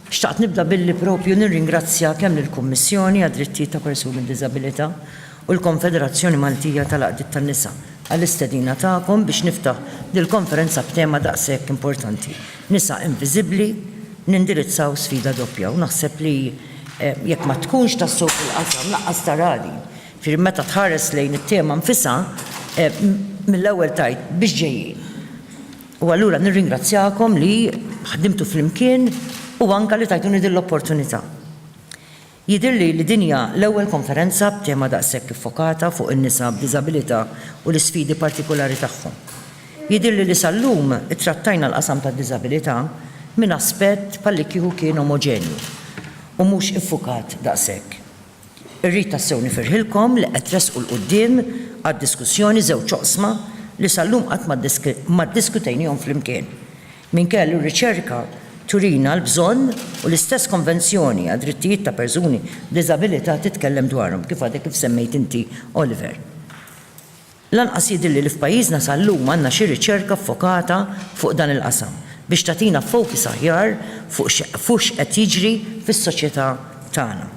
Xtaqt nibda billi propju nirringrazzja kemm lill-Kummissjoni għad-Drittijiet ta' Persuni b'Diżabilità u l-Konfederazzjoni Maltija tal-Għaqdiet tan-Nisa għall-istedina tagħkom biex niftaħ dil-konferenza b'tema daqshekk importanti, Nisa Inviżibbli, Nindirizzaw Sfida Doppja. U naħseb li jekk ma tkunx tassew fil-qasam, lanqas tara din. Jiġifieri meta tħares lejn it-tema nfisha, mill-ewwel tgħid biex ġejjin. U allura nirringrazzjakom li ħdimtu flimkien u anke li tajtuni din l-opportunità. Jidhirli li din hija l-ewwel konferenza b'tema daqshekk iffokata fuq in-nisa b'diżabilità u l-isfidi partikulari tagħhom. Jidhirli li sal-lum ittrattajna l-qasam tad-diżabilità minn aspett bħallikieku kien omoġenju u mhux iffukat daqshekk. Irrid tassew nifirħilkom li qed tressqu 'l quddiem għad-diskussjoni żewġ oqsma li sal-lum qatt ma ddiskutejniehom flimkien. Minkejja li r-riċerka turina l-bżonn u l-istess Konvenzjoni għad-Drittijiet ta' Persuni b'Diżabilità titkellem dwarhom, kif għadek kif semmejt inti, Oliver. Lanqas jidhirli li f'pajjiżna sal-lum għandna xi riċerka ffokata fuq dan il-qasam biex tagħtina focus aħjar fuq x'qed jiġri fis-soċjetà tagħna.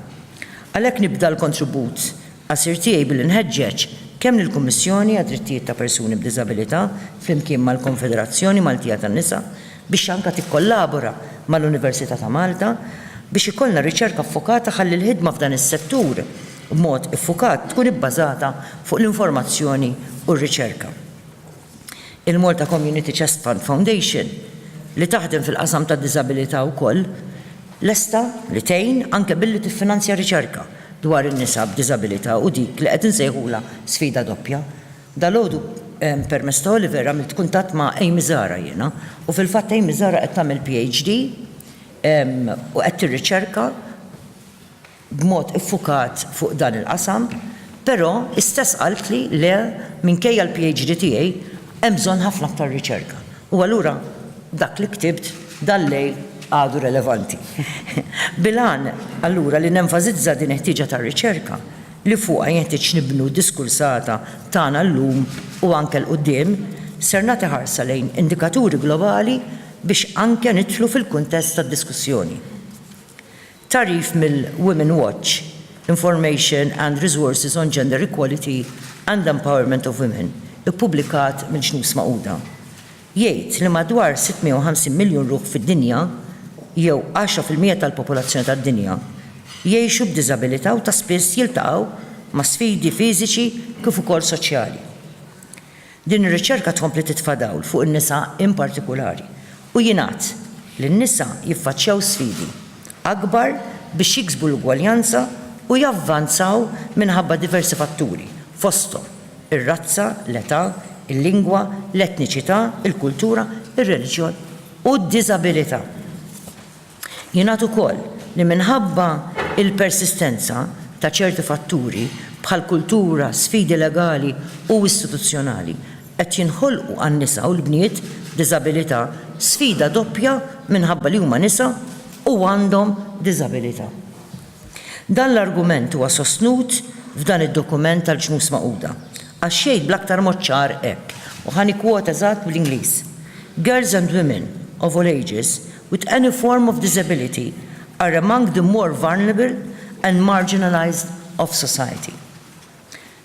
Għalhekk nibda l-kontribut qasir tiegħi billi nħeġġeġ kemm lill-Kummissjoni għad-Drittijiet ta' Persuni b'Diżabilità flimkien mal-Konfederazzjoni Maltija tan-Nisa biex anke tikkollabora mal-Università ta' Malta biex ikollna riċerka ffokata ħalli l-ħidma f'dan is-settur b'mod iffukat tkun ibbażata fuq l-informazzjoni u r-riċerka. Il-Malta Community Chest Fund Foundation, li taħdem fil-qasam tad-diżabilità wkoll, lesta li tgħin anke billi tiffinanzja riċerka dwar in-nisa b'diżabilità u dik li qed insejħulha sfida doppja. Dalgħodu permezz ta' Oliver għamilt kuntatt ma' Amy Zahra jiena u fil-fatt Amy Zahra qed tagħmel PhD u qed tirriċerka b'mod iffukat fuq dan il-qasam, però istess qaltli le minkejja l-PhD tiegħi hemm bżonn ħafna aktar riċerka. U allura dak li ktibt dal-lejl għadu relevanti. Bil-għan allura li nenfasizza din il-ħtieġa ta' riċerka li fuqha jenħtieġ nibnu d-diskursata tagħna llum u anke 'l quddiem, ser nagħti ħarsa lejn indikaturi globali biex anke nidħlu fil-kuntest tad-diskussjoni. Tagħrif mill-Women Watch, Information and Resources on Gender Equality and Empowerment of Women, ippubblikat mill-Ġnus Magħquda, jgħid li madwar 650 miljun ruħ fid-dinja, jew għaxra fil-mija tal-popolazzjoni tad-dinja, jgħixu b'diżabilità u ta' spiss jiltaqgħu ma' sfidi fiżiċi kif ukoll soċjali. Din ir-riċerka tkompli titfa' dawl fuq in-nisa in partikulari u jingħad li n-nisa jiffaċċjaw sfidi akbar biex jiksbu l-ugwaljanza u javvanzaw minħabba diversi fatturi, fosthom, ir-razza, l-età, il-lingwa, l-etniċità, il-kultura, ir-reliġjon u d-diżabilità. Jingħad ukoll li minħabba l-persistenza ta' ċerti fatturi bħal kultura, sfidi legali u istituzzjonali, qed jinħolqu għan-nisa u l-bniet b'diżabilità sfida doppja minħabba li huma nisa u għandhom diżabilità. Dan l-argument huwa sostnut f'dan id-dokument tal-Ġnus Magħquda, għax jgħid bl-aktar mod ċar hekk, u ħa nikkwota eżatt bl-Ingliż, Girls and women, of all ages, with any form of disability are among the more vulnerable and marginalised of society.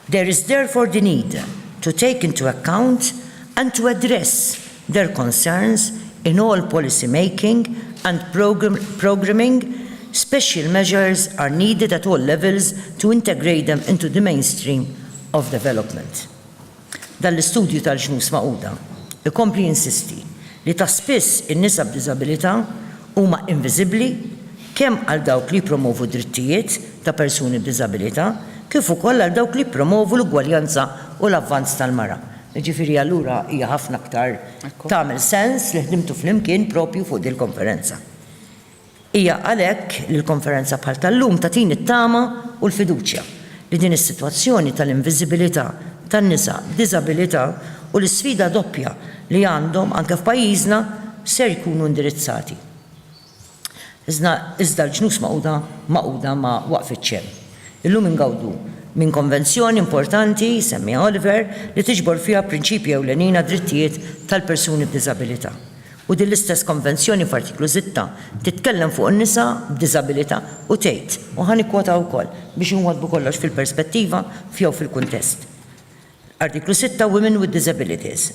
There is therefore the need to take into account and to address their concerns in all policy making and programming, special measures are needed at all levels to integrate them into the mainstream of development. Dan l-istudju tal-Ġnus Magħquda jkompli jinsisti li ta' spiss in-nisa b'diżabilità huma inviżibbli, kemm għal dawk li jippromovu d-drittijiet ta' persuni b'diżabilità kif ukoll għal dawk li jippromovu l-ugwaljanza u l-avvanz tal-mara. Jiġifieri allura hija ħafna aktar tagħmel sens li ħdimtu flimkien proprju fuq dil-konferenza. Hija għalhekk li l-konferenza bħal tal-lum tagħtini t-tama u l-fiduċja li din is-sitwazzjoni tal-inviżibilità tan-nisa b'diżabilità u l-isfida doppja li għandhom anke f'pajjiżna ser jkunu indirizzati. Iżda l-Ġnus Magħquda magħquda ma waqfitx hemm. Illum ingawdu minn konvenzjoni importanti, jsemmiha Oliver, li tiġbor fiha prinċipji ewlenin għad-drittijiet tal-persuni b'diżabilità. U din l-istess konvenzjoni f'Artiklu Sitta titkellem fuq in-nisa b'diżabilità u tgħid, u ħa nikkwota wkoll biex inwaddbu kollox fil-perspettiva jew fil-kuntest, Artiklu Sitta, Women with Disabilities,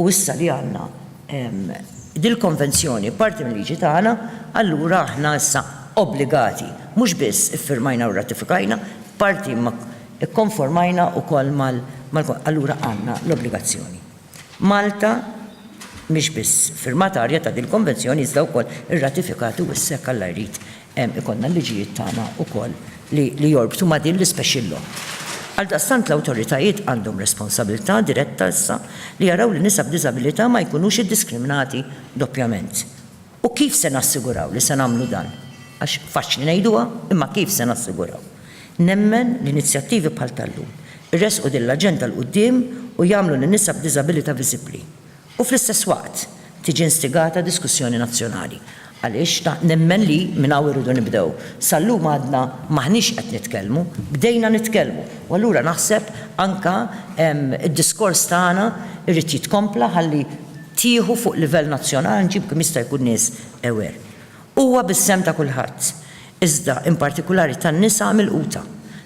U issa li għandna dil-Konvenzjoni parti mil-liġi tagħna, allura aħna issa obbligati, mhux biss iffirmajna u rratifikajna, parti imma kkonformajna wkoll mal, allura għandna l-obbligazzjoni. Malta mhix biss firmatarja ta' dil-Konvenzjoni iżda wkoll irratifikat u issa jekk Alla jrid Hemm ikollna l-liġijiet tagħna wkoll li jorbtu ma' din l-ispecial law. Għaldaqstant l-awtoritajiet għandhom responsabilità diretta issa li jaraw li nisa b'diżabilità ma jkunux iddiskriminati doppjament. U kif se nassiguraw li se nagħmlu dan? Għax faċli ngħiduha, imma kif se nassiguraw? Nemmen li inizjattivi bħal tal-lum iressqu din l-aġenda 'l quddiem u jagħmlu lin-nisa b'diżabilità viżibbli. u fl-istess waqt tiġi instigata diskussjoni nazzjonali għaliex nemmen li minn hawn irridu nibdew. Sal-lum għadna m'aħniex qed nitkellmu, bdejna nitkellmu u allura naħseb anke d-diskors tagħna jrid jitkompla ħalli tieħu fuq livell nazzjonali nġibu kemm jista' jkun nies aware. Huwa bis-sehem ta' kulħadd, iżda in partikulari tan-nisa milquta,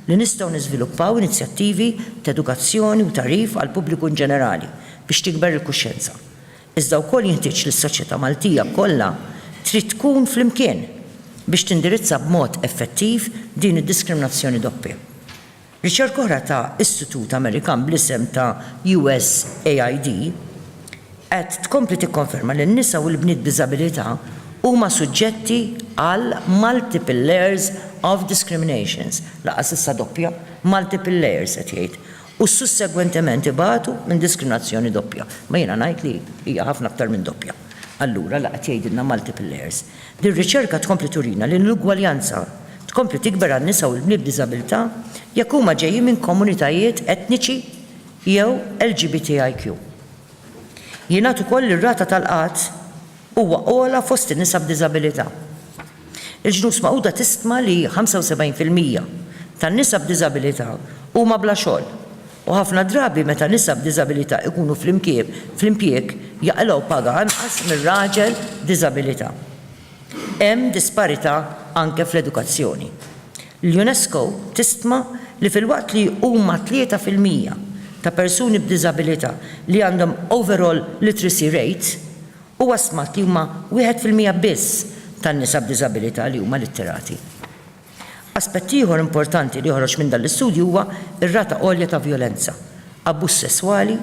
li nistgħu niżviluppaw inizjattivi t'edukazzjoni u tagħrif għall-pubbliku in ġenerali biex tikber il-kuxjenza. Iżda wkoll jinħtieġ li s-soċjetà Maltija kollha trid tkun flimkien biex tindirizza b'mod effettiv din id-diskriminazzjoni doppja. Riċerka oħra ta' istitut Amerikan bl-isem ta' USAID qed tkompli tikkonferma li n-nisa u l-bniet b'diżabilità huma suġġetti għal multiple layers of discriminations, lanqas issa doppja, multiple layers qed jgħid, u sussegwentement ibatu minn diskriminazzjoni doppja. Ma jiena ngħid li hija ħafna aktar minn doppja. Allura la qed jgħidilna multiple layers. Din ir-riċerka tkompli turina li l-inugwaljanza tkompli tikber għan-nisa u l-bniet b'diżabilità jekk huma ġejjin minn komunitajiet etniċi jew LGBTIQ. Jingħad ukoll li r-rata tal-qgħad huwa ogħla fost in-nisa b'diżabilità. Il-Ġnus Magħquda tistma li 75 fil-mija tan-nisa b'diżabilità huma bla xogħol U ħafna drabi meta nisa b'diżabilità jkunu fl-impjieg jaqilgħu paga anqas mir-raġel b'diżabilità. Hemm disparità anke fl-edukazzjoni. L-UNESCO tistima li filwaqt li huma tlieta fil-mija ta' persuni b'diżabilità li għandhom overall literacy rate, huwa stmat li huma wieħed fil-mija biss tan-nisa b'diżabilità li huma litterati. Aspett ieħor importanti li joħroġ minn dan l-istudju huwa r-rata għolja ta' vjolenza, abbuż sesswali,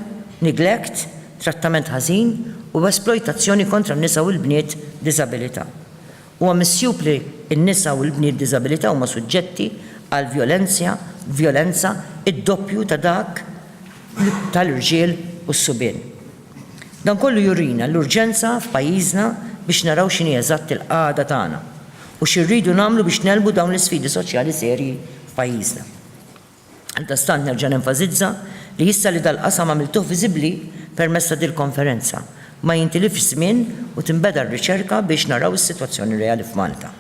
neglect, trattament ħażin u esplojtazzjoni kontra n-nisa u l-bniet b'diżabilità. Huwa misjub li n-nisa u l-bniet b'diżabilità huma suġġetti għal vjolenzja vjolenza d-doppju ta' dak tal-irġiel u s-subien. Dan kollu jurina l-urġenza f'pajjiżna biex naraw x'inhi eżatt il-qagħda tagħna u xi rridu nagħmlu biex negħlbu dawn l-isfidi soċjali serji f'pajjiżna. Għaldastant nerġa' nenfasizza li issa li dal-qasam għamiltuh viżibbli permezz ta' dil-konferenza, ma jintilifx żmien u tinbeda r-riċerka biex naraw is-sitwazzjoni reali f'Malta.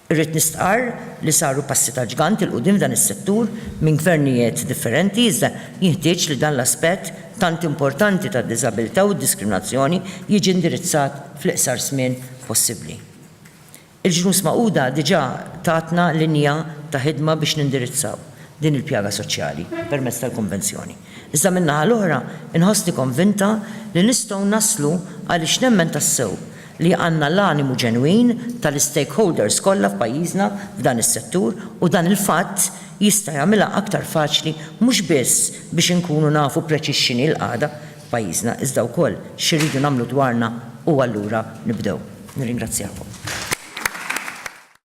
Irrid nistqarr li saru passi ta' ġgant 'il quddiem f'dan is-settur minn gvernijiet differenti iżda jinħtieġ li dan l-aspett tant importanti tad-diżabilità u d-diskriminazzjoni jiġi indirizzat fl-iqsar żmien possibbli. Il-Ġnus Magħquda diġà tatna linja ta' ħidma biex nindirizzaw din il-pjaga soċjali permezz tal-Konvenzjoni. Iżda min-naħa l-oħra inħossni konvinta li nistgħu naslu għaliex nemmen tassew li għandna l-animu ġenwin tal-istakeholders kollha f'pajjiżna f'dan is-settur u dan il-fatt jista' jagħmilha aktar faċli mhux biss biex inkunu nafu preċiż x'inhi l-qagħda f'pajjiżna iżda wkoll x'irridu nagħmlu dwarna u allura nibdew. Nirringrazzjakom.